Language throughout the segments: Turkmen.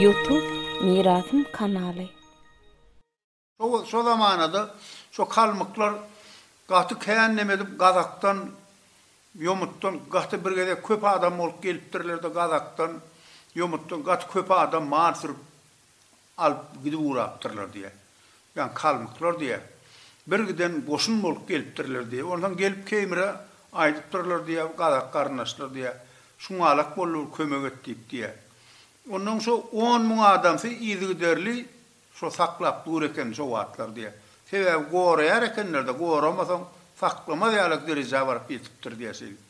Youtube Mirasym kanaly. Şo şo zamanada şo kalmyklar gaty kän neme edip gazakdan ýomutdan gaty bir gezek köp adam bolup gelipdirlerde gazakdan ýomutdan gaty köp adam man sürüp alyp gidip ugrapdyrlar diýýä. Ýagny kalmyklar diýýä. Bir giden goşun bolup gelipdirler diýýä. Onsoň gelip Keýmire aýdypdyrlar diýýä, gazak garyndaşlar diýýä. Şuňalak boldy bir kömek et diýip diýýä. Onsoň şo on müň adamsy yzygiderli şo saklap dur eken şo wagtlar diýýä. Sebäbi goraýar ekenler-de, goramasaň saklamaz ýaly derejä baryp ýetipdir diýýä şeýdip.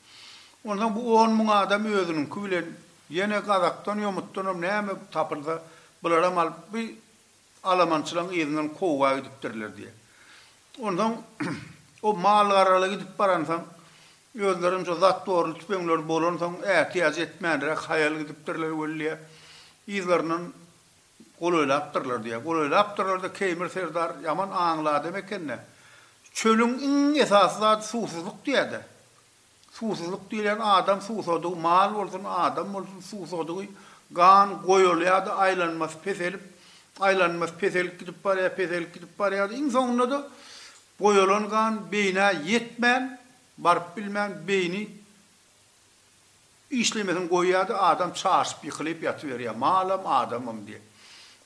Onsoň bu on müň adam özüniňki bilen Ýene gazakdan ýomutdanam näme tapylsa, bularam alyp bu alamançylaň yzyndan kowga gidipdirler diýýä. Onsoň o malgaraly gidip baransoň, özlerem şo zatworly tüpeňleri bolansoň, ätiýaç etmänräk haýal gidipdirler welliä, yzlaryndan golaýlapdyrlar diýýä. Golaýlapdyrlar-da, Keýmir serdar ýaman aňly adam eken-dä. Çölüň iň esasy zady suwsuzlyk diýýä-dä. Suwsuzlyk diýlen adam suwsadygy mal bolsun, adam bolsun suwsadygy gan goýulýardy, aýlanmasy peselip, aýlanmasy peselip gidip barýar, peselip gidip barýardy. Iň soňunda-da goýulan gan beýnä ýetmän, baryp bilmän beýni Işlemesini goýýardy, adam çaşyp ýykylyp ýatyberýär, malam, adamam diýip.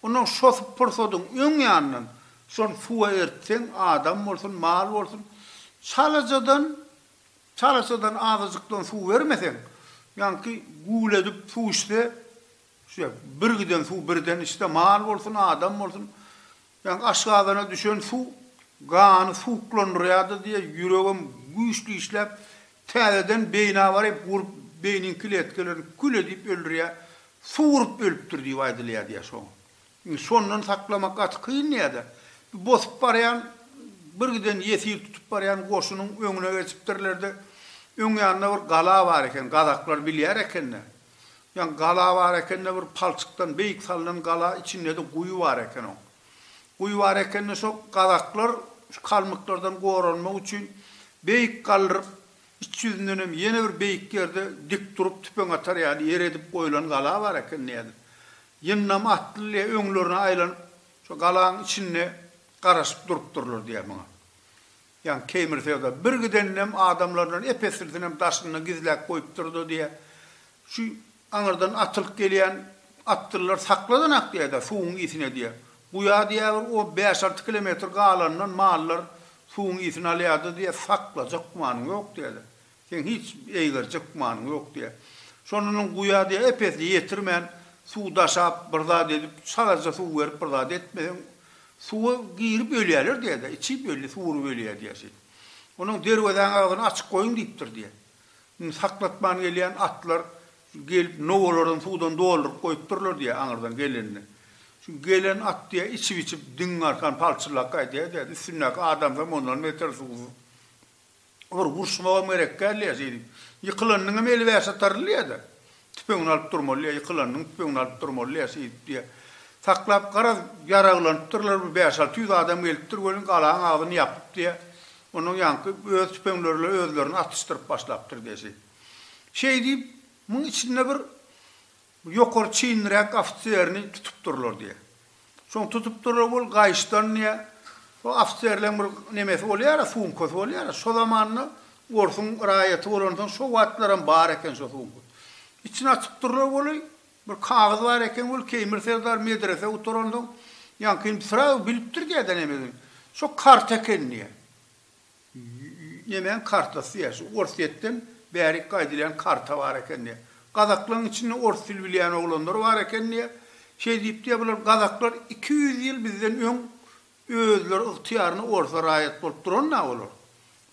Ondan şos pursadyň öň ýanyndan şony suwa eritseň, adam bolsun, mal bolsun, çalajadan, çalaçadan azajykdan suw bermeseň, ýaňky güwledip suw içse, şüýe, birgiden suw birden içse, mal bolsun, adam bolsun, Ýaňky aşgazana düşen suw gany suwuklandyrýardy diýe, ýüregem güýçli işläp, täzeden beýni abaryp urup, beýniň kletkalaryn kül edip öldürýär, suw urup ölüpdir diýip aýdylýar diýe şoň. Indi şondan saklamak gaty kyn diýe-de, bu bosup barýan, birgiden ýesir tutup barýan goşunyň öňüne geçipdirler-de, öň ýanynda bir gala bar eken, gazaklar bilýär eken-de, Ýa gala bar ekende bir palçykdan beýik salnan gala içindede guýy bar eken oň. Guýy bar ekende şo gazaklar şu kalmyklardan goranmak üçin beýik galdyryp iç ýüzündenem ýene bir beýik ýerde dik durup tüpeň atar ýaly ýer edip goýlan gala bar eken diýýädi. Ýyndam atly ile öňlerine aýlanyp şo galaň içinde garaşyp durupdyrlar diýýä muňa. Ýan Keýmir Feoda bir gideninem adamlaryndan ep-eslisinem daşynda gizläp goýupdyr-da diýýä. Şu aňyrdan atylyp gelýän atlylar sakladan-ak diýýä-de, suwuň ysine diýýä. Guýa diýýä bir on bäş-alty kilometr galanyndan mallar suwuň ysyn alýa-da diýýä, saklajak gümanyň ýok diýýä-de. Seň hiç eýgerjek manyň ýok, diýýär. Şonda onuň guýa, diýýär, epesini ýetirmän, suw daşap, bir zat edip, çalaja suw berip, bir zat etmeseň, suwa girip ölýärler, diýýär-de, içip ölýär, suwuryp ölýär, diýýär, şeýdip. Onuň derwezäniň agzyny açyk goýuň diýipdir, diýýär. Indi saklatman gelýän atlar gelip, nowalaryny suwdan dolduryp goýupdyrlar, diýýär, aňyrdan gelende. Şu gelen at, diýýär, içip-içip, diňiň arkan palçyllap gaýdýar, diýýär-de, üstündäki adamsam ondan beter suwsuz. Olar uruşmagam gerek däldiýýä şeýdip. Ýykylanyňam eli bäş atarlydyýýä-de. Tüpeňini alyp durmalydyýýä, ýykylanyňam tüpeňini alyp durmalydyýýä şeýdip diýýä. Saklap, garaz, ýaraglanypdyrlar, bir bäş-alty ýüz adam gelipdir welin, galaň agzyny ýapypdyýýä. Ondan ýaňky öz tüpeňlerle özlerini atyşdyryp başlapdyr diýýä şeýdip. Şeý diýip, muň içinde bir Bu ýokary çinliräk ofiserini tutupdyrlar diýýä. Şony tutupdyrlar bul gaýyşdan diýýä. Şo ofiserleň bir nemesi bolýara, sumkasy bolýara. Şo zamanda orsuň raýaty bolansoň şo wagtlaram bar eken şo sumka. Içini açypdyrlar weli, bir kagyz bar eken weli Keýmir serdar medrese gutaransoň ýaňky indi srazu bilipdir diýýä-de nemesini. Şo karta eken diýýä. Nemäň kartasy ýa şu Orsýetden bärik gaýdylýan karta bar eken diýýär. Gazaklaň içinde ors dil bilýän oglanlar bar eken diýýär. Şeý diýip diýýär bular gazaklar iki ýüz ýyl bizden öň özleri ygtyýaryna orsa raýat bolup duran da olar.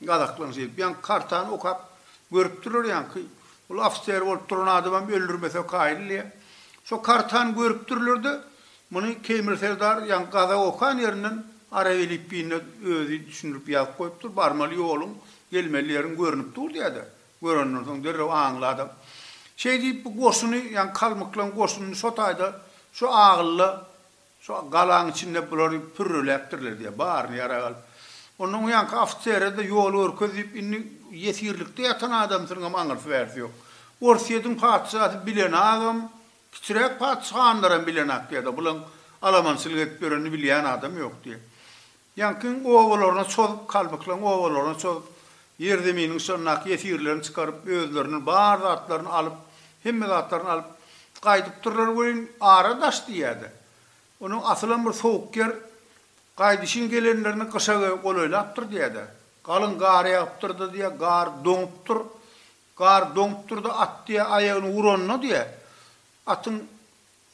Gazaklaň şeýdip ýaňky kartany okap görüpdirler ýaňky ol ofiser bolup duran adamam öldürmese kaýyl diýýär. Şo kartany görüpdirlerde Muny Keýmir Serdar ýaňky gaza okan ýerinden arap elipbiýinde özi düşündirip ýazyp goýupdyr, barmaly ýoluň, gelmeli ýeriň görnüp dur diýädä. Görenden soň derrew aňly adam. Şeý diýip bu goşuny, ýaňky kalmyklaryň goşunyny şo taýda, şo agylda, şo galaň içinde bulary pürreläpdirler diýýär, baryny ýarag alyp. Ondan o ýaňky ofisere-de ýol görkez diýip, indi ýesirlikde ýatan adamsynyňam aňyrsy-bärsi ýok. Orsýetiň patyşasy bilen agam, Kiçiräk patyşahanlaram bilenokdy ýa-da bulaň alamançylyk edip ýörenini bilýän adam ýokdy. Ýaňkyň obalaryna çozup, kalbyklaň obalaryna çozup, ýerzeminiň şondaky ýesirlerini çykaryp, özleriniň bar zatlaryny alyp, hemme zatlaryny alyp, gaýdypdyrlar welin, ara daş diýýä-de. Onuň asylam bir sowuk ýer, gaýdyşyn gelenlerini gyşa golaýlapdyr diýýä-de. Galyň gar ýagypdyr-da diýýä, gar doňupdyr. Gar doňup durdy, at diýe aýagyny uranyna diýe, atyň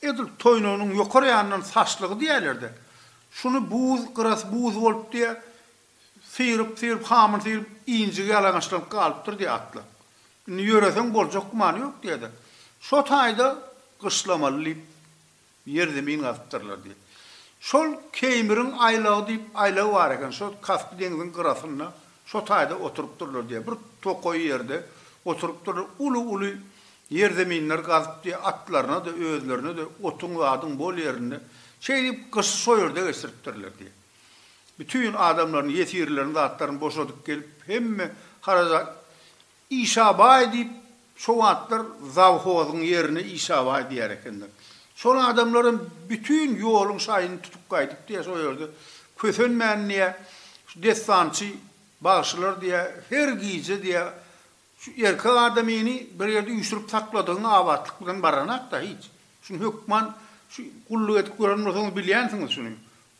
edil toýnagynyň ýokar ýanyndan saçlygy diýerler-de, şuny buz, gyrasy buz bolup diýe, syryp, syryp, hamyny syryp, injigi ýalaňaçlanyp galypdyr diýe atlar. Indi ýöreseň boljak gümany ýok diýe-de, şo taýda gyşlamaly diýip, Ýer-zemin gazypdyrlar diýip. Şol Keýmiriň aýlagy diýip aýlagy bar eken, şol Kaspy deňziň gyrasynda şo taýda oturypdyrlar diýýär. Bir tokaý ýerde oturypdyrlar, uly-uly ýer-zeminler gazyp diýýär, atlaryna-da, özlerine-de otuň-zadyň bol ýerinde. Şeýdip, gyşy şo ýerde geçiripdirler diýýär. Bütin adamlaryny, ýesirlerini, zatlaryny boşadyp gelip, hemme haraja. Işabaý diýip, şo wagtlar zawhozyň ýerine Işabaý diýer ekenler. Şol adamlaram bütin ýoluň şaýyny tutup gaýdypdy ýa, şo ýerde kösenmän diýä, şu dessançy bagşylar diýä, her gije diýä, şu erkek adamyny bir ýerde üýşürip sakladygyň abatlyk bilen baranak-da hiç. Şuny hökman şu gulluk edip gören bolsaňyz bilýänsiňiz şuny.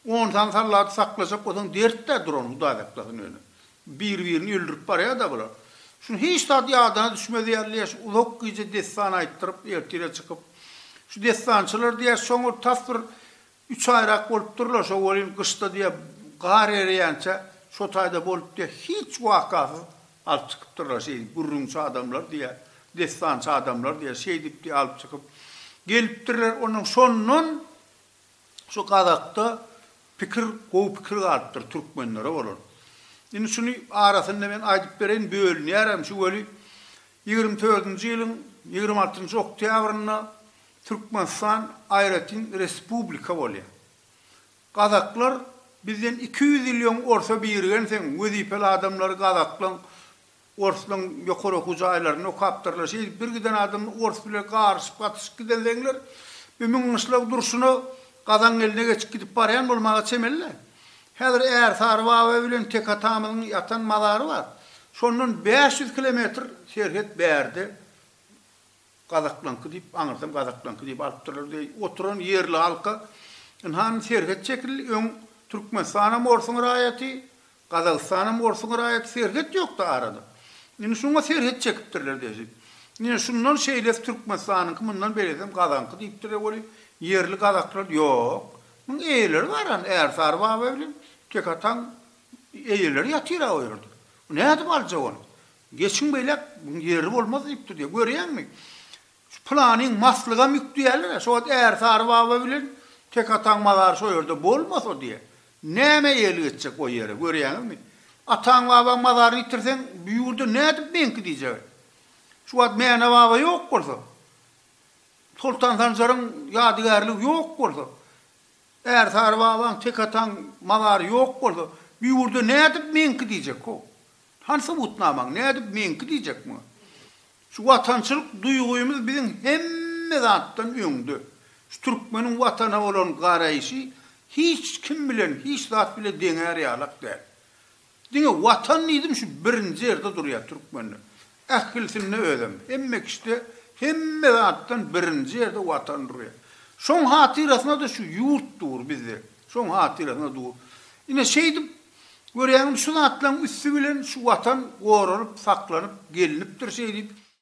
Onsan sallady saklajak bolsaň dertdä duran hudaý saklasyn ýöne. Bir birini öldürip barýada bular. Şuny hiç zat ýadana düşmez ýaly leş uzak gije dessan aýtdyryp ertire çykyp Şu dessançylar diýä şoňa tas bir üç aýrak bolupdyrlar şo welin gyşda diýä gar ereýänçä şo taýda bolup diýä hiç wakasyz alyp çykypdyrlar şeýdip gürrüňçi adamlar diýä dessançy adamlar diýä şeýdip diýä alyp çykyp gelipdirler ondan şondan Şu gazakda pikir gowy pikir galypdyr türkmenlere bolan. Indi şuny arasynda men aýdyp bereýin bölünýärem şu weli ýigrimi törtünji ýylyň ýigrimi altynjy oktýabrynda Türkmenistan aýratyn respublika bolýar. Gazaklar bizden iki ýüz ýyl öň orta birgenseň wezipeli adamlary gazaklaň Orslaň ýokary okuw jaýlaryny okapdyrlar. Şeýdip bir giden adam ors bile garyşyp gatyşyp giden zeňler bir müň gyşlag durşuna Gazaň eline geçip gidip barýan bolmaga çemeli-le. Häzir Ärsary baba bilen Tek atamyzyň ýatan mazary bar. Şondan bäş ýüz kilometr serhet bärde Gazaklaňky diýip, aňyrsam Gazaklaňky diýip alypdyrlar deý oturan ýerli halka ynha indi serhet çekildi, öň Türkmenistan hem orsuň raýaty, Gazagystanam orsuň raýaty serhet ýokda arada. Indi şuňa serhet çekipdirler desi. Ýne şundan şeýles Türkmenistanyňky mundan beresem gazaňky diýipdirler weli ýerli gazaklar ýok. Muň eýeleri baran Ärsary baba bilen Tekataň eýeleri ýatyra o ýerde. Bu nädip aljak ony. Geçiň beýläk muň ýeri bolmaz diýipdir diýe. Görýäňmi şu pylanyň maslygam ýük diýerler-ä. Şo wagt Ärsary baba bilen Tekataň mazary şo ýerde bolmasa diýe. Näme eýeli geçjek o ýere, görýäňizmi? Ataň-babaň mazaryny ýitirseň, bu ýurda nädip meňki diýjegä? Şu wagt Mäne-baba ýok bolsa, Soltan Sanjaryň ýadygärligi ýok bolsa, Ärsary babaň, Tekataň mazary ýok bolsa, bu ýurda nädip meňki diýjek-how? Hany subutnamaň, nädip meňki diýjek muňa? Şu watançylyk duýgymyz biziň hemme zatdan öňde. Şu türkmeniň watana bolan garaýşy hiç kim bilen, hiç zat bile deňär ýalak däl. Diňe watan diýdim şu birinji ýerde durýar türkmende. Ählisinde özem, hemme kişide, hemme zatdan birinji ýerde watan durýar. Şoň hatyrasyna-da şu ýurt dur bizde. Şoň hatyrasyna dur. Ine şeýdip Görýäňmi, şu zatlaryň üsti bilen şu Watan goralyp, saklanyp gelinipdir şeýdip.